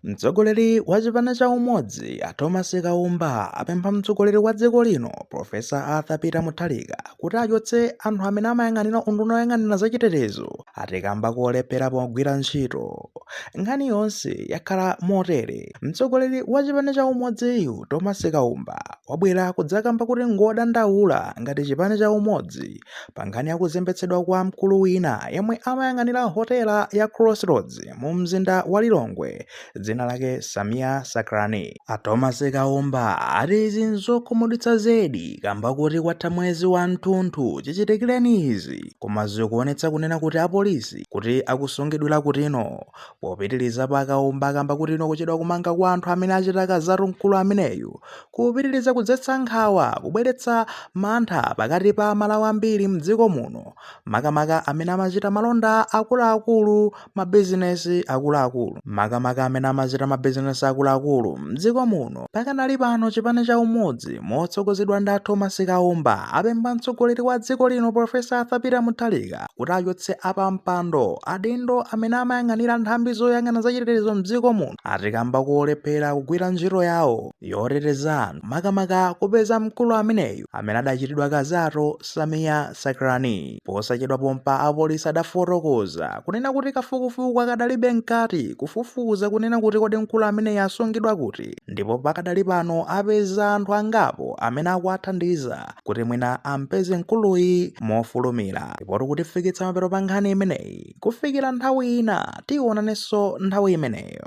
Mtsogoleri wa chipani cha Umodzi a Thomas Kaumba apempha mtsogoleri wa dziko lino Professor Arthur Peter Mutharika kuti achotse anthu amene amayang'anira unduna woyang'anira za chitetezo ati kamba kolephera pogwira ntchito. Nkhani yonse yakhala motere. Mtsogoleri wa chipani cha Umodziyu Thomas Kaumba wabwera kudzakamba kuti ngodandaula ngati chipani cha Umodzi pa nkhani ya kuzembetsedwa kwa mkulu wina yemwe amayang'anira hotela ya Crossroads mu mzinda wa Lilongwe dzina lake Sameer Sacranie. A Thomas Kaumba ati izi nzokhumudwitsa zedi kamba kuti kwatha mwezi wa mthunthu chichitikireni izi koma zikuonetsa kunena kuti apolisi kuti akusungidwira kutino popitiriza pa Kaumba kamba kutino kuchedwa kumanga kwa anthu amene achita kalizatu mkulu ameneyu kupitiriza kudzetsa nkhawa, kubweretsa mantha pakati pa Amalawi ambiri m'dziko muno, makamaka amene amachita malonda akuluakulu, mabizinesi akuluakulu, makamaka amene amachita mabizinesi akuluakulu m'dziko muno. Pakadali pano chipani cha Umodzi motsogozedwa ndi a Thomas Kaumba apempha mtsogoleri wa dziko lino Prof. Arthur Peter Mutharika kuti achotse pa mpando adindo amene amayang'anira nthambi zoyang'ana za chitetezo m'dziko muno ati kamba kolephera kugwira ntchito yawo. yoteteza anthu makamaka kupeza mkulu ameneyu amene adachitidwa kalizatu Sameer Sacranie. Posachedwa pompa apolisi adafotokoza kunena kuti kafukufuku akadali mkati kufufuza kunena kuti kodi mkulu ameneyu asungidwa kuti ndipo pakadali pano apeza anthu angapo amene akuwathandiza kuti mwina ampeze mkuluyi mofulumira. Ndipo zikutifikitsa pamapeto pa nkhani imeneyi kufikira nthawi ina tionanenso nthawi imeneyo.